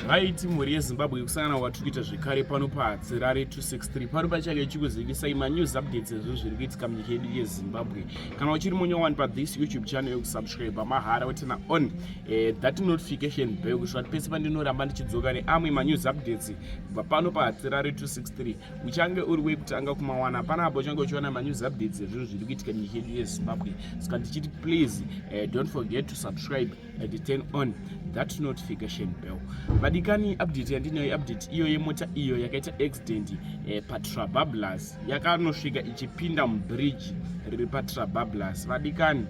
vaiti mhuri yezimbabwe yekusangana kwatiri kuita zvekare pano pahadzirare 263 pano pachake ichikuzivisai manews updates ezvo zviri kuitika munyika yedu yezimbabwe kana uchiri munyowani pathis youtube channel yokusubscribe mahara wetena on eh, that notification bell kusvika kuti pese pandinoramba ndichidzoka neamwe manews updates kubva pano pahadzirare 263 uchange uri wekutanga kumawana hapana apo uchange uchiwana manews updates ezvinhu zviri kuitika munyika yedu yezimbabwe saka ndichiti please eh, don't forget to subscribe I did turn on that notification bell vadikani update yandinayo iupdate iyo yemota iyo yakaita accident eh, patrabablas yakanosvika ichipinda mubridge riri patrabablas vadikani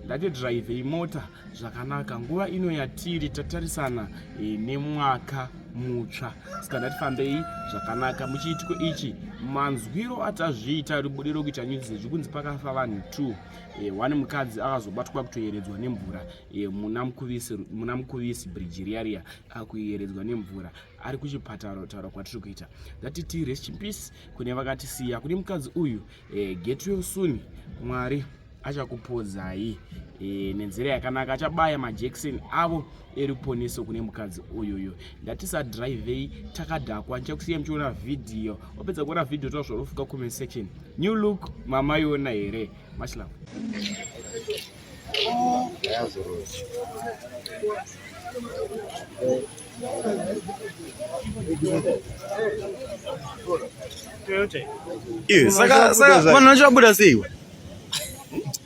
ndatidrive imota zvakanaka nguva ino yatiri tatarisana eh, nemwaka mutsva saka ndatifambei zvakanaka muchiitiko ichi manzwiro atazviita ribudiro kuita nyuzi zvechikunzi pakafa vanhu two e, one mukadzi akazobatwa kutoyeredzwa nemvura e, muna mukuvisi muna mukuvisi bridge riya riya akuyeredzwa nemvura ari kuchipatara taura kwatiri kuita ngatiti rest in peace kune vakatisiya kune mukadzi uyu e, get well soon mwari achakupodzai e, nenzira yakanaka achabaya majekiseni avo eruponeso kune mukadzi uyuyu ndatisadrivei takadhakwa ndichakusiya muchiona vhidhiyo wapedza kuona vhidhiyo toa zvarofuka comment section new look mama iona here much love Iwe, saka, saka, vanhu vacho vabuda seiwe?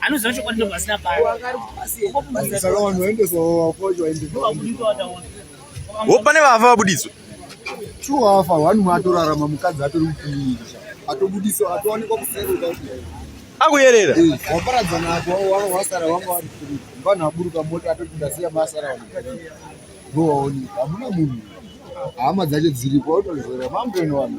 anoziva chokwadi ndo pasina pawo pane vafa vabuditswa two wafa one mwe atorarama mukadzi atori mukumiirisha atobudiswa atowanikwa kuseruka akuyerera eh, waparadza nako wanga wasara wanga wari kuri vanhu aburuka mota atoti ndasiya masara vanhu ndowaoneka hamuna munhu hama dzacho dziripo otozora mambo inowana